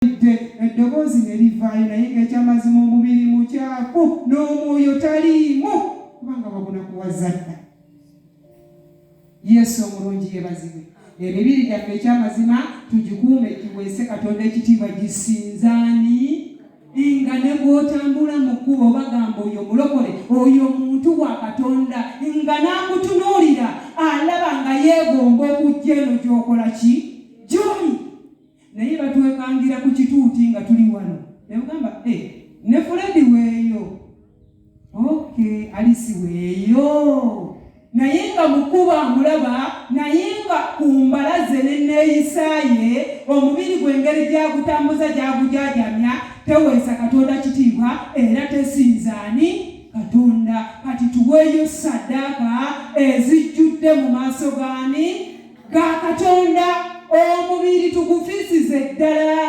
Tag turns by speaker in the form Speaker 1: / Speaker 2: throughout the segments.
Speaker 1: Mpulidde eddoboozi ne livaayo naye ng'ekyamazima omubiri mukyafu n'omwoyo taliimu kubanga baguna kuwaza dda. Yesu omulungi yebazibwe. Emibiri gyaffe ekyamazima tugikuume giweese Katonda ekitiibwa gisinzaani nga ne gw'otambula mu kkubo bagamba oyo mulokole oyo muntu wa Katonda nga n'akutunuulira alaba nga yeegomba okujja eno gy'okola ki gy'oli naye batwekangira ku kituuti nga tuli wano nebugamba e eh, ne fuledi weeyo ok alisi weeyo naye nga mukuba amulaba naye nga ku mbalaze neneeyisaye omubiri gwengeri gyagutambuza gyagujajamya teweesa katonda kitiibwa era tesinzaani katonda kati tuweeyo saddaaka ezijjudde mu maaso gaani ga Katonda omubiri tugufisize ddala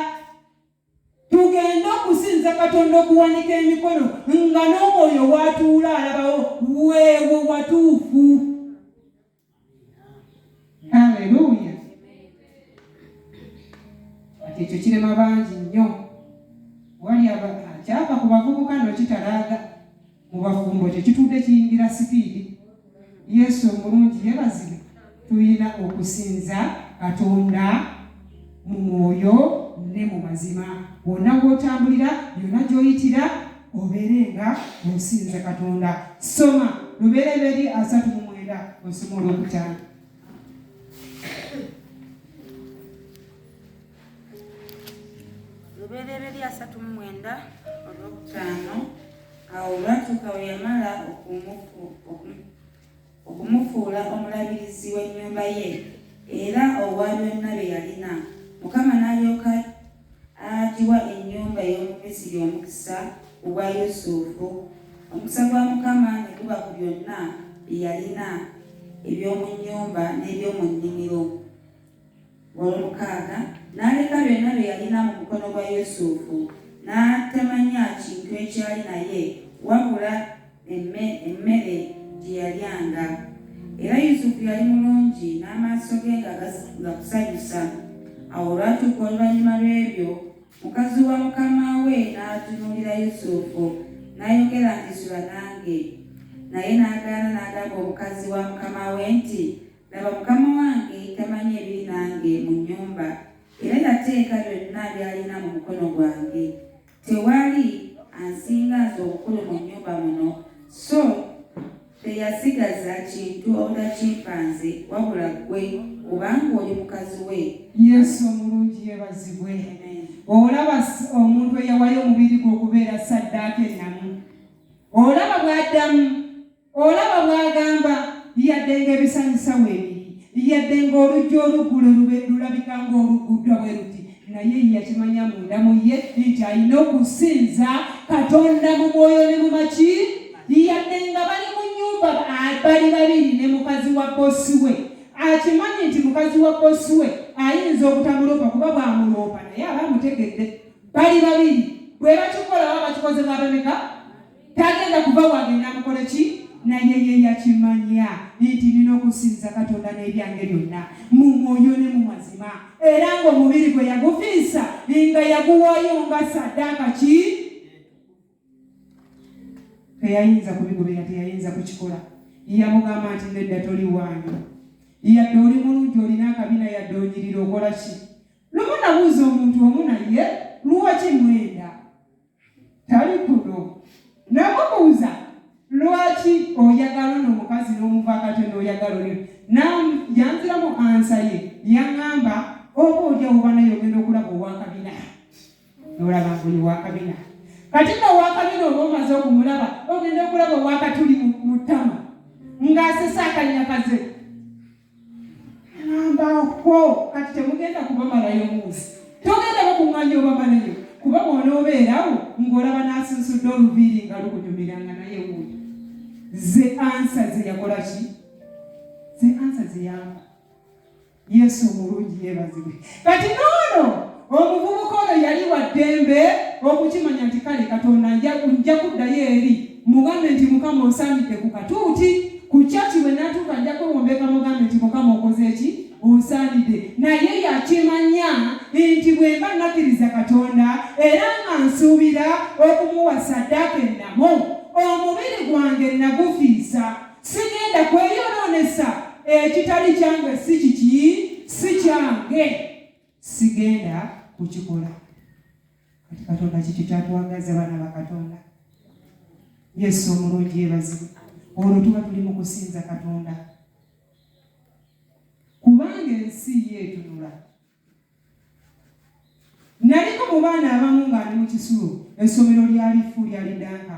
Speaker 1: tugende okusinza katonda okuwanika emikono nga n'omwoyo watuula alabawo weewo watuufu aleluya kati ekyo kirema bangi nnyo wali akyava ku bavubuka nokitalaaga mu bafumbo kye kitudde kiyingira sipiidi yesu omulungi yebazibwe tulina okusinza katonda mu mwoyo ne mu mazima wonna gwotambulira yonna gyoyitira obeere nga osinza katonda soma lubereberi asatu mu mwenda osoma olwokutaano
Speaker 2: lubereberye asatu mu mwenda olwokutaano awo olwatuuka we yamala okumufuula omulabirizi w'ennyumba ye era owa byonna bye yalina mukama n'alyoka agiwa ennyumba ey'omumisiri omukisa ku bwa yusufu omukisa gwa mukama ne guba ku byonna bye yalina eby'omu nnyumba n'eby'omu nnimiro Olwomukaaga, n'aleka byonna bye yalina mu mukono gwa Yusufu, n'atamanya kintu ekyali naye wabula emmere gye yalyanga. Era Yusufu yali mulungi n'amaaso ge nga gakusanyusa. Awo olwatuuka oluvannyuma lw'ebyo, mukazi wa mukama we n'atunuulira Yusufu n'ayogera nti, Sula nange. Naye n'agaana n'agamba omukazi wa mukama we nti, Laba, mukama wange tamanyi ebiri nange mu nnyumba, era yateeka byonna by'alina mu mukono gwange. Tewali ansinga nze obukulu mu nnyumba muno, so teyasigaza kintu obutakimpa nze, wabula ggwe, kubanga oli mukazi we. Yesu omulungi
Speaker 1: yeebazibwe! Olaba omuntu eyawayo omubiri gwe okubeera ssaddaaka ennamu? Olaba bw'addamu? Olaba bw'agamba, Yadde ng'ebisanyusa weebiri, yadde ng'oluggi oluggulo lulabika ng'olugguddwa bwe luti, naye ye yakimanya munda mu ye nti alina okusinza Katonda mu mwoyo ne mu maki. Yadde nga bali mu nnyumba bali babiri ne mukazi wa bosi we, akimanyi nti mukazi wa bosi we ayinza obutamuloopa kuba bw'amuloopa naye aba amutegedde. Bali babiri, bwe bakikola baba bakikoze mu abameka? tagenda kuva wange namukola ki naye ye yakimanya nti nina okusinza katonda n'ebyange byonna mu mwoyo ne mu mazima era ng'omubiri gwe yagufiisa nga yaguwayo nga saddaaka ki teyayinza kubigobera teyayinza kukikola yamugamba nti nedda toli wange yadde oli mulungi olina akabina yadde onyirira okola ki lumu nabuuza omuntu omu naye luwaki mwenda tali kuno namubuuza lwaki oyagala ono omukazi n'omuvaakate n'oyagala oyo yanziramu ansa ye yaŋŋamba oba olya oba naye ogenda okulaba owakabina nolaba ngoyo wakabina kati no wakabina oba omaze okumulaba ogenda okulaba owakatuli mu ttama ng'asesa akanyakaze Nambako kati temugenda kubamalayo munsi, togenda bakuŋŋanya obamalayo kuba bw'onoobeerawo ng'olaba n'asunsudde oluviiri nga lukunyumira nga naye wuuyo. Ze ansa ze yakola ki? Ze ansa ze yamba. Yesu omulungi yeebazibwe. kati noono omuvubuka ono yali wa ddembe okukimanya nti kale katonda nja kuddayo eri mugambe nti mukama onsaanidde ku katuuti ku kyaki bwe natuuka nja kwewombeka mugambe nti mukama okoze eki onsaanidde naye yakimanya nti bwe mba nakkiriza katonda era nga nsuubira okumuwa saddaaka ennamu omubiri gwange nagufiisa sigenda kweyonoonesa ekitali kyange si kiki si kyange sigenda kukikola kati katonda kiki kyatwagaza abaana bakatonda yesu omulungi yebazibu olwo tuba tuli mu kusinza katonda kubanga ensi yeetunula naliko mu baana abamu ng'ali mu kisulo essomero lyalifu lyali danka